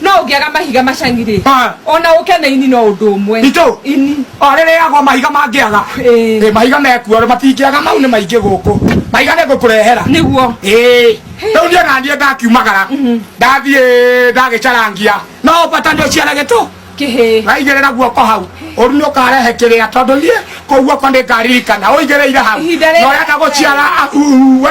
no ũngĩaga mahiga macang'irĩ Ah. ona ũke na ini no ũndũ ũmwe Itũ? ini orĩrĩagwo mahiga mangĩaga Ĩĩ. Ĩĩ, mahiga mekuo matingĩaga mau nĩ maingĩ gũkũ mahiga nĩ ngũkũrehera nĩguo Ĩĩ, rĩu niĩ ona niĩ ndakiumagara ndathiĩ ndagĩcarangia no bata nĩ ũciare gĩtũ kĩhĩ waigĩrĩra guoko hau ũru nĩ ũkarehe kĩrĩa tondũ niĩ kũu guoko nĩ ngaririkana ũigĩrĩire hau Ihinda rĩrĩ- na ũrenda gũciara ahuwe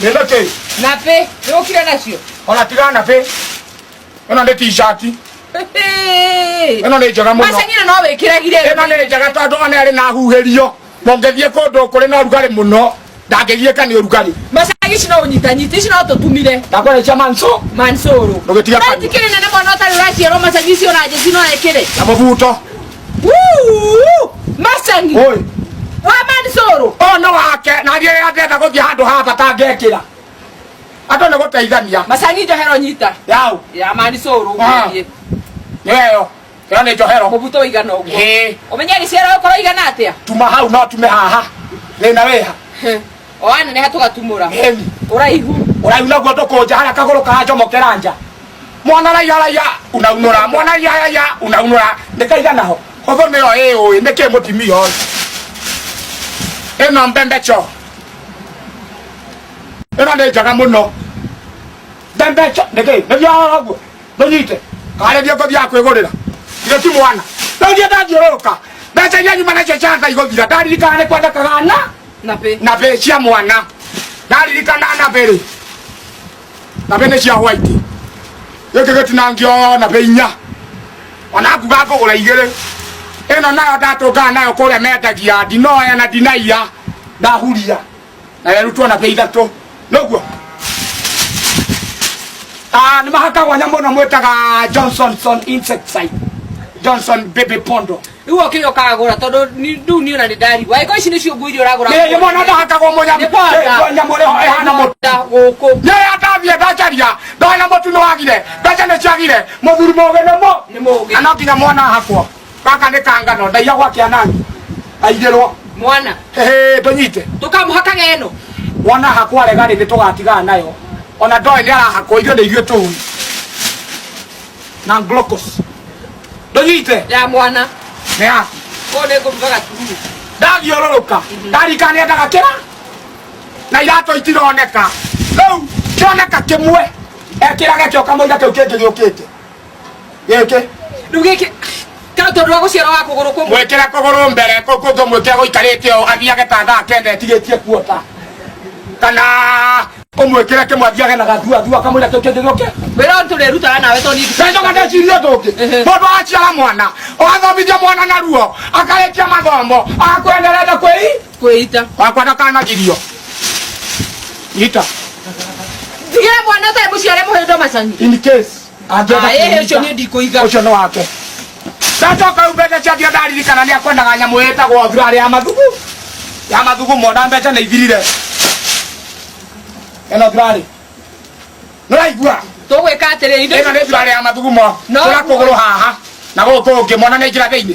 ĩno kĩ na pĩ nĩũkire nacio ona tiga na pĩ ĩno nĩ t-shirt ĩno nĩ njega mũno maceng'ire no wĩkĩragire ĩno nĩ njega tondũ ona ĩrĩ na huhĩrio mũngĩthiĩ kũndũ kũrĩ na ũrugarĩ mũno ndangĩgiĩka nĩ ũrugarĩ macagi ici no ũnyitanyita ici no tũtumire ndakũrĩkia manso mansoro Ndũgĩtiga kanua. tikĩrĩ nene mwana ũtarĩ ũraciarwo macagi ici ona njeci no ekĩre na mũbuto Wuu! Macagi. Oi. Wa Mansoro. Ũyũ nĩ wake na thiĩ rĩrĩa ndĩrenda gũthiĩ handũ haha bata ngekĩra andũ nĩ gũteithania Macagi njohero nyita. yaũ Ya Mansoro. Ah. Ũgũthiĩ. nĩyo ĩyo nĩ njohero Mũbuto ũigana ũguo. Ĩĩ. Ũmenye gĩciara ũkorwo igana atĩa? tuma hau no tume haha thĩna wĩha oana neha tugatumura Meli. uraihu Urai unaguo ndukunja haria kaguru kanjomokera nja. Mwana raiya raiya unaunura mwana raiya raiya unaunura ndikaigana ho. Hotho niyo ĩĩ ũĩ nĩkĩ mũtimia ũyũ. Ĩno mbembe cho. Ĩno nĩ njega mũno. Mbembe cho nĩkĩ nĩthiaga ũguo ndũnyite karĩria ngũthiaga kwĩgũrĩra. Githĩ ti mwana. Rĩu ndiĩ ndathiũrũrũka. Mbeca iria nyuma nacio cia Ngai gũthira ndaririkana nĩ kwendekaga na nabe nabe cia mwana ndaririkana nabe rĩ nabe nĩ cia white gĩkĩ gĩtinangio nabe inya ona nguga ngũgũra igĩrĩ ĩno nayo ndatũngaga nayo kũrĩa mendagia ndinoya na ndinaiya ndahuria na yarutwo nabe ithatũ noguo Ah, nĩ mahakagwo nyamũ ĩno mwĩtaga johnsonson insecticide johnson baby pondo Rĩu okire ũkagũra tondũ ni- rĩu niĩ ona nĩ ndarigwo. Angĩkorwo ici nĩcio nguo iria ũragũra. Nĩ nĩ mwana ndahakagwo mũnya Nĩ bata. nyamũ ĩrĩa ĩhana mũtu. Nda gũkũ. Rĩrĩa ndathiĩ ndacaria ndona mũtu nĩ wagire mbeca nĩ ciagire mũthuri mũgĩ nĩ mũ Nĩ mũgĩ. na no nginya mwana ahakwo gaka nĩ kangano ndaiya gwa kĩanani aigĩrwo Mwana. Hĩhĩ, ndũnyite Tũkamũhakaga ĩno. wona hakwa rega rĩ nĩ tũgatigaa nayo ona ndoĩ nĩ arahakwo ithuĩ nĩ ithuĩ tũu na glocos ndũnyite ya mwana ya kũũ nĩ ngũruga gatumuru ndathiũrũrũka ndarika nĩendaga kĩra na iratũ itironeka rĩu kĩoneka kĩmwe ekĩrage kĩo kamũira kĩu kĩngĩ gĩũkĩte gĩkĩ rĩu gĩkĩ ka tondũ wa gũciara wa kũgũrũ kũmwe mwĩkĩre kũgũrũ mbere kũngũmwĩkĩra gũikarĩte ũũ athiage ta thaa kenda etigĩtie kuota kana ũmwĩkĩre kĩmwe athiage na gathua thua kamwĩra kĩu kĩngĩ gĩũke wĩra ũyũ tũrĩrutaga nawe tondũ ithuĩ- njoka ndecirie tũngĩ Ehe. mũndũ aciara mwana agathomithia mwana na ruo akarĩkia mathomo akwenderete kwĩi kwĩita wakwa ndakanagirio ita ndigĩre mwana ũtarĩ mũciare mũhĩndo macani in case Angĩenda Aĩ, kũnyita, ũcio niĩ ndikũiga. ũcio nĩ wake ndacoka rĩu mbeca ciatio ndaririkana nĩ akwendaga nyamũ ĩtagwo thurarĩ ya mathugu ya mathugu mona mbeca nĩ ithirire ĩno thurarĩ nĩraigua tũgwĩka atĩrĩ indo ĩno nĩ thurarĩ ya mathugumo No. tũra kũgũrũ haha na gũkũ ũngĩ mwana nĩ njĩra thĩinĩ